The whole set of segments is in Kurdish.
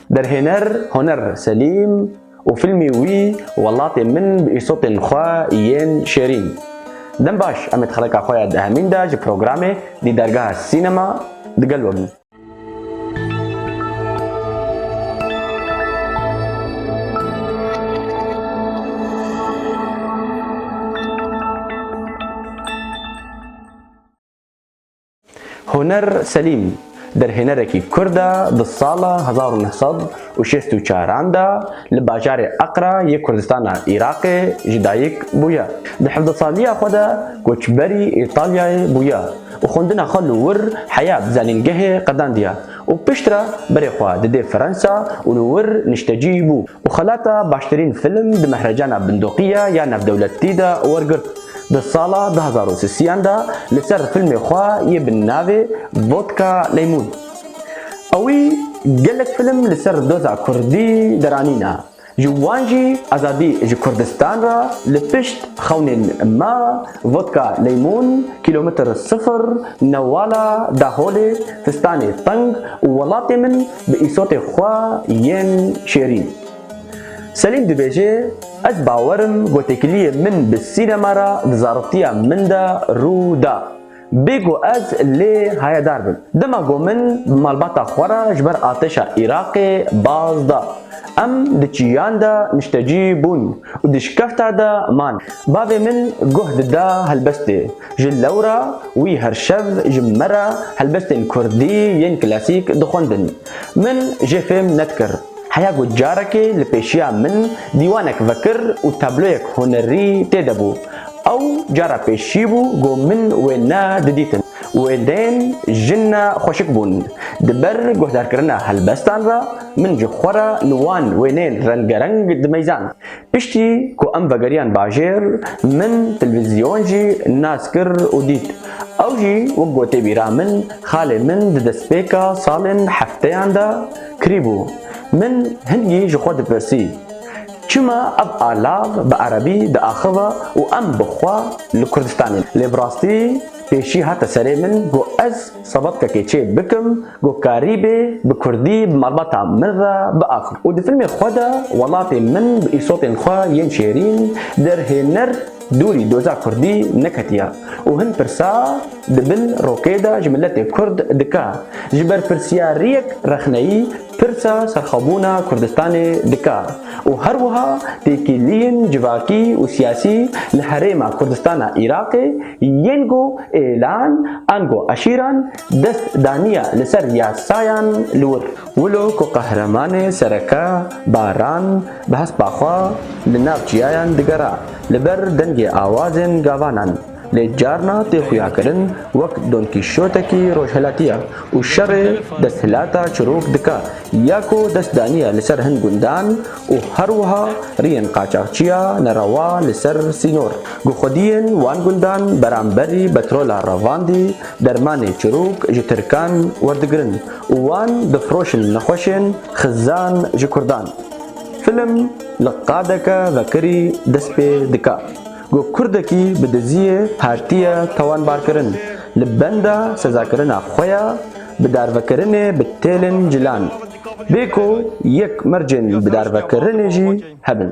Derhêner Honer Selîm û fîlmê wî Welatê min bi îsotên xwe yên şêrîn. Dem baş em ê di xeleka xwe ya dehemîn de ji programê Dîdargeha Sînema di gel we bin. Huner Selîm derhênerekî kurd e di sala hezar û neh sed û şêst û çar an de li bajarê Aqra yê Kurdistana Iraqê ji dayik bûye. Di hevdeh saliya xwe de koçberî Îtalyayê bûye û xwendina xwe li wir heya bi zanîngehê qedandiye û piştre berê xwe didê Fransa û li wir niştecî bû û xelata baştirîn film di mehrecana Bindoqiya ya Navdewletî de wergirt. Di sala du hezar û sisiyan de li ser filmê xwe yê bi navê Vodka Leymun a wî gelek film li ser doza kurdî deranîne, ji wan jî Azadî ji Kurdistan re li pişt xewnên me, Vodka Leymun, Kîlomitr Sifir, Newala, Daholê, Fistanê Teng û Welatê Min bi îsotê xwe yên şêrîn. Selîm dibêje, Ez bawer im ku têkiliyê min bi sînema re di zaroktîya min de rû da. Bê ku ez lê hayedar bim. Dema ku min bi malbata xwe re ji ber artêşa Iraqê baz da, em di çiyan de niştecî bûn û di şikefta de man. Bavê min guh dida helbestê. Ji lewra wî her şev ji me re helbestên kurdî yên klasîk dixwendin. Min jê fêm nedikir. Heya ku carekê li pêşiya min dîwanek vekir û tabloyek hunerî tê de bû. Ew cara pêşî bû ku min wê ne didîtin. Wêdeyên jin ne xweşik bûn. Di ber guhdarkirina helbestan re min ji xwe re li wan wêneyên rengereng dimeyzand. Piştî ku em vegeriyan bajêr, min televîzyon jî nas kir û dît. Ew jî wek ku tê bîra min, xalê min di destpêka salên hefteyan de, Kirîbû. Min hingî ji xwe dipirsî, Çima ev alav bi erebî diaxiva û em bi xwe li Kurdistanê ne? Lê bi rastî pêşî hate serê min ku ez sebebtekê çê bikim ku Karîbê bi kurdî bi malbata min re biaxivin û di filmê xwe de welatê min bi îsotên xwe yên şêrîn derhêner. Dorî doza kurdî neketiya û hin pirsa di bin rokê de ji miletê kurd dike. Ji berpirsyariyek rexneyî pirsa serxwebûna Kurdistanê dike û her wiha têkiliyên civakî û siyasî li herêma Kurdistana Iraqê yên ku êlan an ku eşîran dest daniye li ser yasayan li wir. Wilo ku qehremanê sereke Baran bi hespa xwe li nav çiyayan digera li ber dengê awazên gavanan lê carna tê xuyakirin wek donkîşotekî rojhilatiya û şerê desthilata çirok dike ya ku dest daniye li ser hin gundan û her wiha riyên qaçaxçiya nerewa li ser sînor ku xwediyên wan gundan beramberî betrola revandî dermanê çirok ji tirkan werdigirin û wan difiroşin nexweşên xizan ji kurdan. Film li qadeke vekirî dest pê dike ku kurdekî bi diziyê hatiye tawanbarkirin li benda sezakirina xwe ya bidarvekirinê bi têlên cilan bê ku yek mercên bidarvekirinê jî hebin.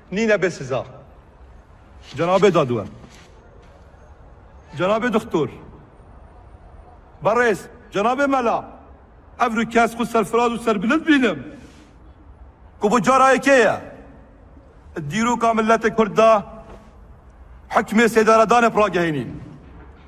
Nîne bê siza. Cenabê Dadwer. Cenabê Dixtor. Berêz. Cenabê Mela. Ev ru kes xwe serfiraz û serbilind bînim. Ku bo cara yekê ye. Di dîroka miletê Kurd de hukmê sêderedanê bi ragehênîn.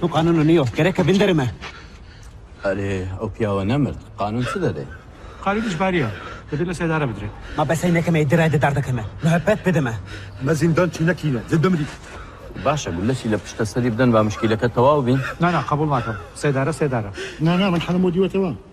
Tu qanûn niyo. Gereke vin derê me. Erê, ew piyawe nemirt. Qanûn çi dede? Qanûn îcbarî ye. Divê li sedare bidire. Ma besey neke me yê dire di derdeke me. Muhebet bide me. Me zîndan çî nekîne. Divê bimrî. Baş e, gule şîle pişta serî bidin va mişkîleke tewal bîn. Na na, qebûl nakim. Sedare, sedare. Na na, min Hemûdî wete wan.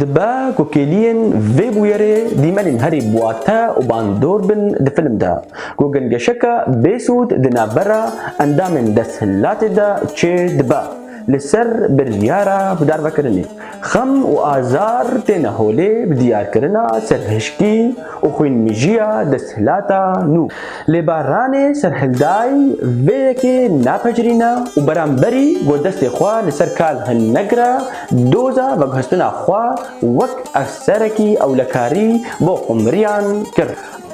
Dibe ku kêliyên vê bûyerê dîmenên herî bwate û bandor bin di film de ku gingeşeke bêsûd di navbera endamên desthilatê de çê dibe. Li ser biryara bidarvekirinê xem û azar têne holê bi diyarkirina serhişkî û xwînmijiya desthilata nû. Lê Barranê Serhildayî vê yekê napejirîne û beramberî got destê xwe li ser kal hin negire doza veguhestina xwe wek efserekî ewlekarî bo xwimriyan kir.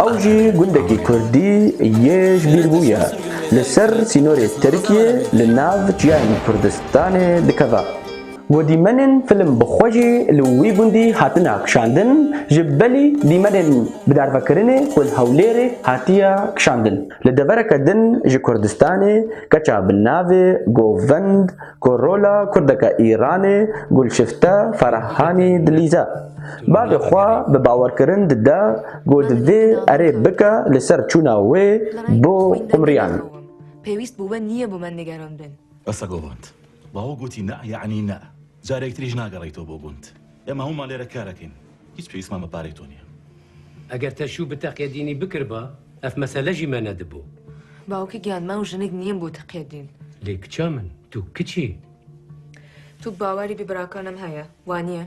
Ew jî gundekî kurdî yê ji bîr bûye. Li ser sînorê Tirkiyê li nav çiyayên Kurdistanê dikeve. Ku dîmenên film bi xwe jî li wî gundî hatine kişandin, ji belî dîmenên bi darvekirinê ku li Hewlêrê hatiye kişandin. Li devereke din ji Kurdistanê keça bi navê Govend ku rola kurdeke Îranê Gulşifte Farahanî dilîze. Bavê xwe bi bawerkirin dide ku divê erê bike li ser çûna wê bo Umriyan. Pêwîst bo we nîye bo me nigeran bin. Qisa govand. Bavê gotî na yanî na. Carek tiriş nagereyto bo gund. Ema hûma lêre kar ekin. Hîç pêwîst man bi parê to nîye. Eger te şû bi teqyedînî bikiriba ev mesele jî me nedibo. Bavke giyan me û jinik nîyên bo teqyedîn. Lê kiça min tu kiç î. Tu bi bawerî bi birakan em heye. Wanîye?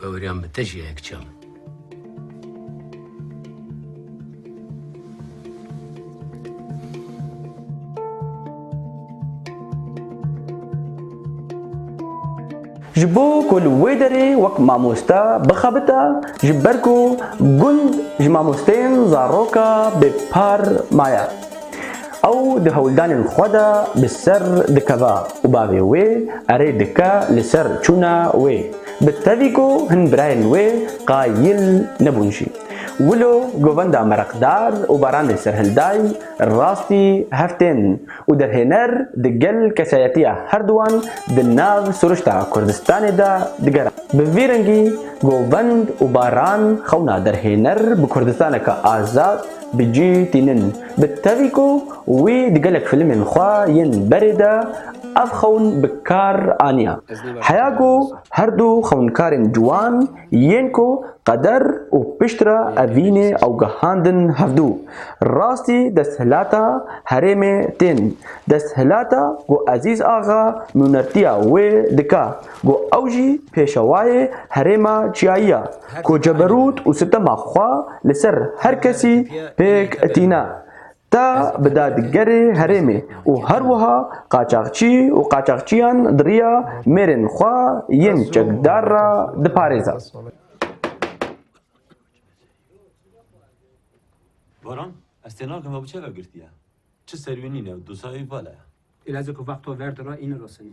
Baweriyan bi te jî heye kiça min. Ji bo ku li wê derê wek mamoste bixebite ji ber ku gund ji mamosteyên zaroka bêpar maye. Ew di hewldanên xwe de bi ser dikeve û bavê wê erê dike li ser çûna wê. Bi tevî ku hin birayên wê qayîl nebûn jî. Wilo govenda Mereqdar û Baran dê serhilday rastî heftên û derhêner di gel kesayetiya herduwan di nav siruşta Kurdistanê de digeran. Bi vî rengî govend û Baran xewna derhêner bi Kurdistaneke azad, Bi cî tînin. Bi tevî ku wî di gelek filmên xwe yên berê de ev xewn bi kar aniya. Heya ku her du xewnkarên ciwan yên ku qeder û piştre evînê ewgehandin hevdu, rastî desthilata herêmê tên. Desthilata ku Ezîz Axa nûnertiya wê dike. Ku ew jî pêşewayê herêma çiyayî ya ku ceberût û sitema xwe li ser her kesî pêk tîne, te bi dadgerê herêmê û her wiha qaçaxçî û qaçaxçiyan di riya mêrên xwe yên çekdar re diparêze. Baran, ez tê nakim ew çi ve girtiye? Çi serwînîn e ew, dosa ew vala ye. Îlacê ku vexto ver dira î nirosinî.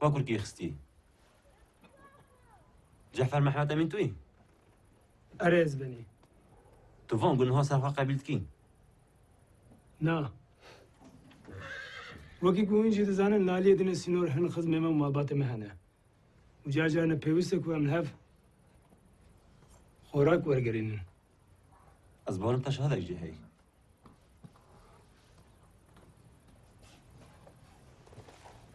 Bakur kî xistî? Cefer Mehmet Emîn tu yî? Erê ez benî. Tu van ku niha ser xwe qebîl dikî? Na. Wekî ku hûn jî dizanin Laliyê din ê sînor hin xizmê me û malbatê me hene. Û car car ne pêwîst e ku em li hev xorak wergerînin. Ez barim te şahidek jî heye.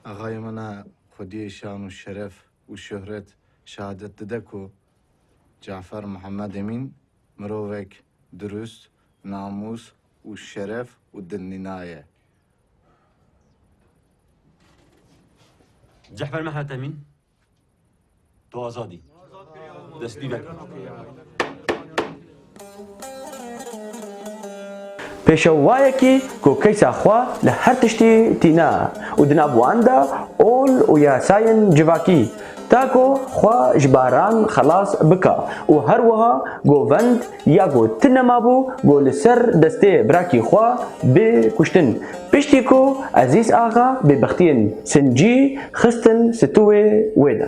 Axayê min a xwediyê şan û şeref û şohret şehadet dide ku Cafer Mihemed Emîn mirovek dirust, namûs û şeref û dilnîna ye. Cafer Mihemed Emîn Tu azad î. Destpî veke. Pêşew wayekî ku keysa xwe li her tiştî tîne û di nav wan de ol û yasayên civakî ta ku xwe ji baran xelas bike û her wiha govend Ya ku ti nemabû ku li ser destê birakî xwe bê kuştin. Piştî ku Ezîz Axa bê bextiyên sincî xistin situwê wê de.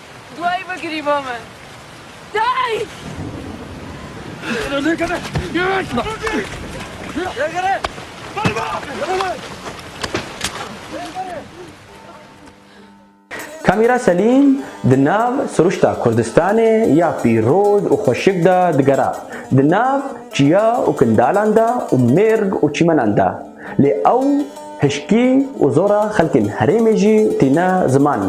Duayê bikirî bo min. Dayk! Kamîra Selîm di nav siruşta Kurdistanê ya pîroz û xweşik de digera, di nav çiya û kindalan de û mêrg û çîmenan de. Lê ew hişkî û zora xelkên herêmê jî tîne ziman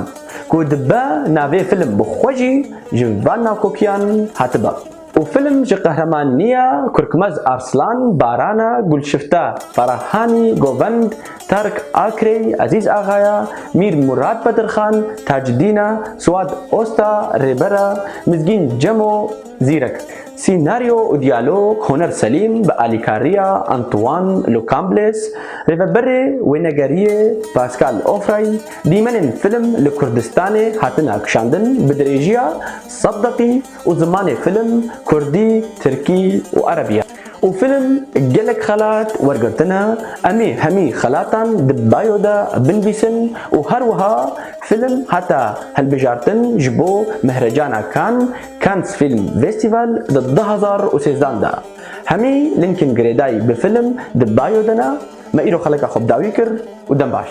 ku dibe navê film bi xwe jî ji van nakokiyan hatibe û film ji qehremaniya Kurkmez Arslan, Baran e, Gulşifte Ferahanî, Govend, Tark Akrey, Ezîz Axaya, Mîr Murad Bedirxan, Tacidîn e, Suad Osta, Rêber e, Mizgîn Cemo, Zîrek. Sînaryo û diyalog Honer Selîm bi alîkariya Antoan Le Cambles, rêveberê wênegeriyê Pascal Offray, dîmenên film li Kurdistanê hatin akişandin bi dirêjiya sed deqî û zimanê film Kurdî, Tirkî û Erebî ye û film gelek xelat wergirtine, em ê hemî xelatan di bio de binvîsin û her wiha film hate hilbijartin ji bo Mehrecana Cannes Cannes Film Vestival di du hezar û sêzdan de hemî Lincoln girêdayî bi film di bayo de ne, me îro xeleka xwe bi dawî kir û dem baş.